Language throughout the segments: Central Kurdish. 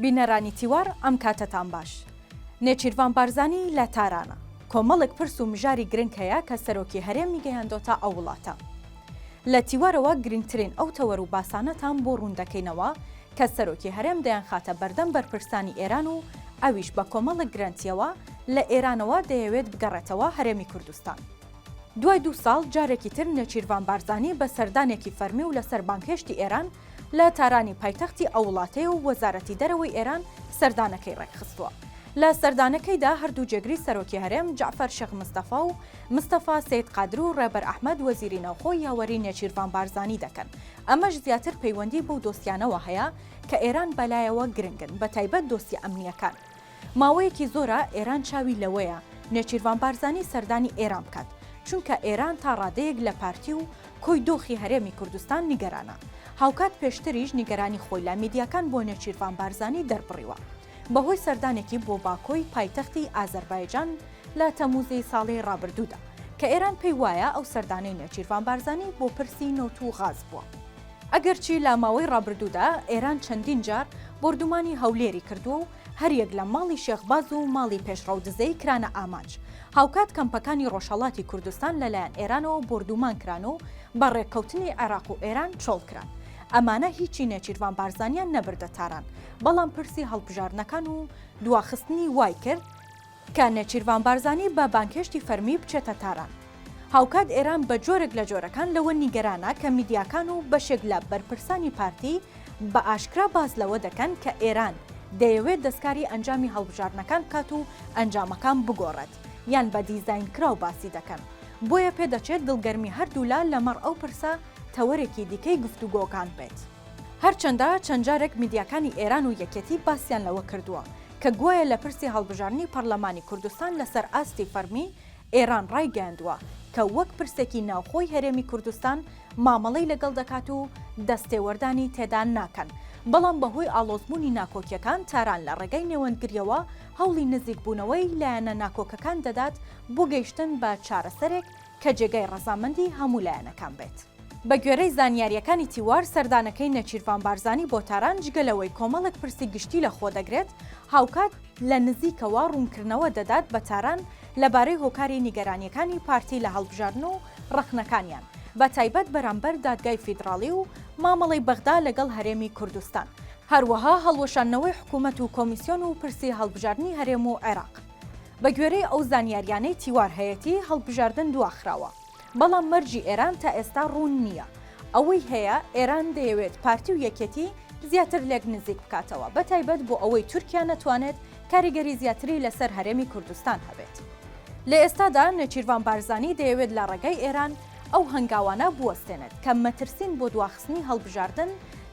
بینەرانی تیوار ئەم کاتەتان باش. نێچیرڤان بارزانی لە تارانە. کۆمەڵێک پرس و مژاری گرنگ هەیە کە سەرۆکی هەرێمی گەیاندۆتە ئەو وڵاتە. لە تیوارەوە گرنگترین ئەو تەوەر و باسانەتان بۆ ڕوون دەکەینەوە کە سەرۆکی هەرێم دەیانخاتە بەردەم بەرپرسانی ئێران و ئەویش بە کۆمەڵێک گرەنتییەوە لە ئێرانەوە دەیەوێت بگەڕێتەوە هەرێمی کوردستان. دوای دوو ساڵ جارێکی تر نێچیرڤان بارزانی بە سەردانێکی فەرمی و لەسەر بانگهێشتی ئێران لە تارانی پایتەختی ئەو وڵاتەیە و وەزارەتی دەرەوەی ئێران سەردانەکەی ڕێکخستووە. لە سەردانەکەیدا هەردوو جێگری سەرۆکی هەرێم جەعفەر شێخ مستەفا و مستەفا سەید قادر و ڕێبەر ئەحمەد وەزیری ناوخۆ یاوەری نێچیرڤان بارزانی دەکەن. ئەمەش زیاتر پەیوەندی بەو دۆسیانەوە هەیە کە ئێران بەلایەوە گرنگن، بەتایبەت دۆسیە ئەمنییەکان. ماوەیەکی زۆرە ئێران چاوی لەوەیە نێچیرڤان بارزانی سەردانی ئێران بکات، چونکە ئێران تا ڕادەیەک لە پارتی و کۆی دۆخی هەرێمی کوردستان نیگەرانە. هاوکات پێشتریش نیگەرانی خۆی لە میدیاکان بۆ نێچیرڤان بارزانی دەربڕیوە بەهۆی سەردانێکی بۆ باکۆی پایتەختی ئازەربایجان لە تەمووزی ساڵی ڕابردوودا کە ئێران پێی وایە ئەو سەردانەی نێچیرڤان بارزانی بۆ پرسی نەوت و غاز بووە. ئەگەرچی لە ماوەی ڕابردوودا ئێران چەندین جار بۆردومانی هەولێری کردووە و هەریەک لە ماڵی شێخ باز و ماڵی پێشڕەو دزەیی کرانە ئامانج، هاوکات کەمپەکانی ڕۆژهەڵاتی کوردستان لەلایەن ئێرانەوە بۆردومان کران و بە ڕێککەوتنی عێراق و ئێران چۆڵ کران. ئەمانە هیچی نێچیرڤان بارزانیان نەبردە تاران، بەڵام پرسی هەڵبژاردنەکان و دواخستنی وای کرد، کە نێچیرڤان بارزانی بە بانگهێشتی فەرمی بچێتە تاران. هاوکات ئێران بە جۆرێک لە جۆرەکان لەوە نیگەرانە کە میدیاکان و بەشێک لە بەرپرسانی پارتی بە ئاشکرا باس لەوە دەکەن کە ئێران دەیەوێت دەستکاری ئەنجامی هەڵبژاردنەکان بکات و ئەنجامەکان بگۆڕێت یان بە دیزاینکراو باسی دەکەن. بۆیە پێدەچێت دڵگەرمی هەردوولا لەمەڕ ئەو پرسە تەوەرێکی دیکەی گفتوگۆکان بێت. هەرچەندە چەند جارێک میدیاکانی ئێران و یەکێتی باسیان لەوە کردووە کە گوایە لە پرسی هەڵبژاردنی پەڕلەمانی کوردستان لەسەر ئاستی فەرمی ئێران ڕایگەیاندووە کە وەک پرسێکی ناوخۆی هەرێمی کوردستان مامەڵەی لەگەڵ دەکات و دەستێوەردانی تێدا ناکەن بەڵام بەهۆی ئاڵۆزبوونی ناکۆکیەکان تاران لە ڕێگای نێوەندگریەوە هەوڵی نزیکبوونەوەی لایەنە ناکۆکەکان دەدات بۆ گەیشتن بە چارەسەرێک کە جێگای ڕەزامەندی هەموو لایەنەکان بێت. بەگوێرەی زانیارییەکانی تیوار، سەردانەکەی نێچیرڤان بارزانی بۆ تاران جگە لەوەی کۆمەڵێک پرسی گشتی لەخۆدەگرێت، هاوکات لە نزیکەوە ڕوونکردنەوە دەدات بە تاران لەبارەی هۆکاری نیگەرانییەکانی پارتی لە هەڵبژاردن و ڕەخنەکانیان بە تایبەت بەرامبەر دادگای فیدڕاڵی و مامەڵەی بەغدا لەگەڵ هەرێمی کوردستان، هەروەها هەڵوەشاندنەوەی حکوومەت و کۆمیسیۆن و پرسی هەڵبژاردنی هەرێم و عێراق. بەگوێرەی ئەو زانیارییانەی تیوار هەیەتی، هەڵبژاردن دواخراوە. بەڵام مەرجی ئێران تا ئێستا ڕوون نییە. ئەوەی هەیە ئێران دەیەوێت پارتی و یەکێتی زیاتر لێک نزیک بکاتەوە، بە تایبەت بۆ ئەوەی تورکیا نەتوانێت کاریگەری زیاتری لەسەر هەرێمی کوردستان هەبێت. لە ئێستادا نێچیرڤان بارزانی دەیەوێت لە ڕێگای ئێران ئەو هەنگاوانە بوەستێنێت کە مەترسین بۆ دواخستنی هەڵبژاردن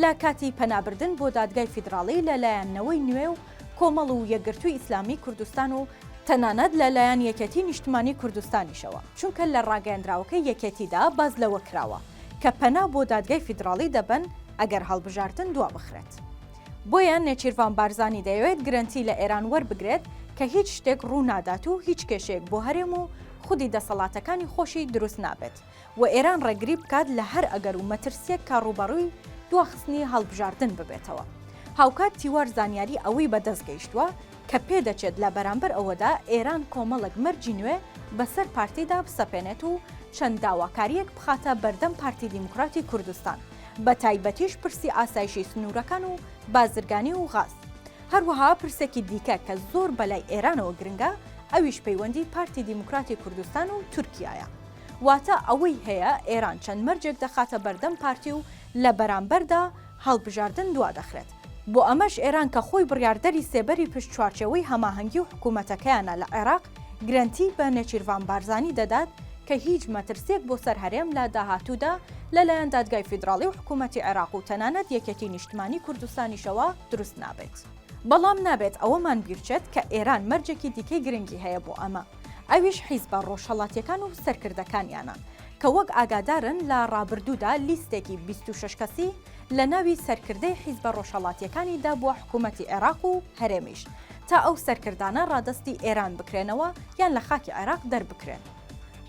لە کاتی پەنابردن بۆ دادگای فیدراڵی لە لایەن نەوەی نوێ و کۆمەڵ و یەکگرتووی ئیسلامیی کوردستان و تەنانەت لە لایەن یەکێتی نیشتمانی کوردستانیشەوە، چونکە لە ڕاگەیەندراوەکەی یەکێتیدا باس لەوە کراوە کە پەنا بۆ دادگای فیدراڵی دەبەن ئەگەر هەڵبژاردن دوابخرێت. بۆیە نێچیرڤان بارزانی دەیەوێت گرەنتی لە ئێران وەربگرێت کە هیچ شتێک ڕوو نادات و هیچ کێشەیەک بۆ هەرێم و خودی دەسەڵاتەکانی خۆشی دروست نابێت. و ئێران ڕێگری بکات لە هەر ئەگەر و مەترسییەک کە ڕووبەڕووی دواخستنی هەڵبژاردن ببێتەوە. هاوکات تیوار زانیاری ئەوەی بەدەست گەیشتووە کە پێدەچێت لە بەرامبەر ئەوەدا ئێران کۆمەڵێک مەرجی نوێ بەسەر پارتیدا بسەپێنێت و چەند داواکارییەک بخاتە بەردەم پارتی دیموکراتی کوردستان بەتایبەتیش پرسی ئاسایشی سنوورەکان و بازرگانی و غاز. هەروەها پرسێکی دیکە کە زۆر بەلای ئێرانەوە گرنگە ئەویش پەیوەندی پارتی دیموکراتی کوردستان و تورکیایە. واتە ئەوەی هەیە ئێران چەند مەرجێک دەخاتە بەردەم پارتی و لە بەرامبەردا هەڵبژاردن دوا دەخرێت. بۆ ئەمەش ئێران کە خۆی بڕیاردەری سێبەری پشت چوارچێوەی هەماهەنگی و حکوومەتەکەیانە لە عێراق، گرەنتی بە نێچیرڤان بارزانی دەدات کە هیچ مەترسییەک بۆ سەر هەرێم لە داهاتوودا لە لایەن دادگای فیدراڵی و حکوومەتی عێراق و تەنانەت یەکێتی نیشتمانی کوردستانیشەوە دروست نابێت. بەڵام نابێت ئەوەمان بیرچێت کە ئێران مەرجێکی دیکەی گرنگی هەیە بۆ ئەمە، ئەویش حیزبە ڕۆژهەڵاتییەکان و سەرکردەکانیانە، کە وەک ئاگادارن لە ڕابردوودا لیستێکی بیست و شەش کەسی لە ناوی سەرکردەی حیزبە ڕۆژهەڵاتییەکانی دابووە حکوومەتی عێراق و هەرێمیش تا ئەو سەرکردانە ڕادەستی ئێران بکرێنەوە یان لە خاکی عێراق دەربکرێن،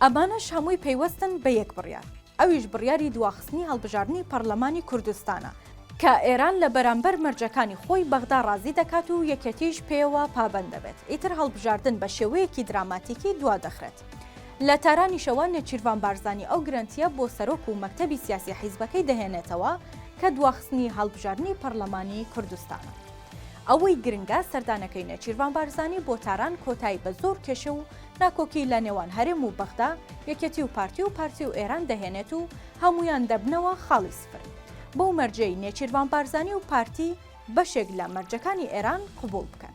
ئەمانەش هەمووی پەیوەستن بە یەک بڕیار. ئەویش بڕیاری دواخستنی هەڵبژاردنی پەڕلەمانی کوردستانە، کە ئێران لە بەرامبەر مەرجەکانی خۆی بەغدا ڕازی دەکات و یەکێتیش پێیەوە پابەند دەبێت، ئیتر هەڵبژاردن بە شێوەیەکی دراماتیکی دوا دەخرێت. لە تارانیشەوە نێچیرڤان بارزانی ئەو گرەنتییە بۆ سەرۆک و مەکتەبی سیاسی حیزبەکەی دەهێنێتەوە کە دواخستنی هەڵبژاردنی پەڕلەمانی کوردستانە. ئەوەی گرنگە سەردانەکەی نێچیرڤان بارزانی بۆ تاران کۆتایی بە زۆر کێشە و ناکۆکی لە نێوان هەرێم و بەغدا، یەکێتی و پارتی و پارتی و ئێران دەهێنێت و هەموویان دەبنەوە خاڵی سفر. بەو مەرجەی نێچیرڤان بارزانی و پارتی بەشێک لە مەرجەکانی ئێران قبووڵ بکەن.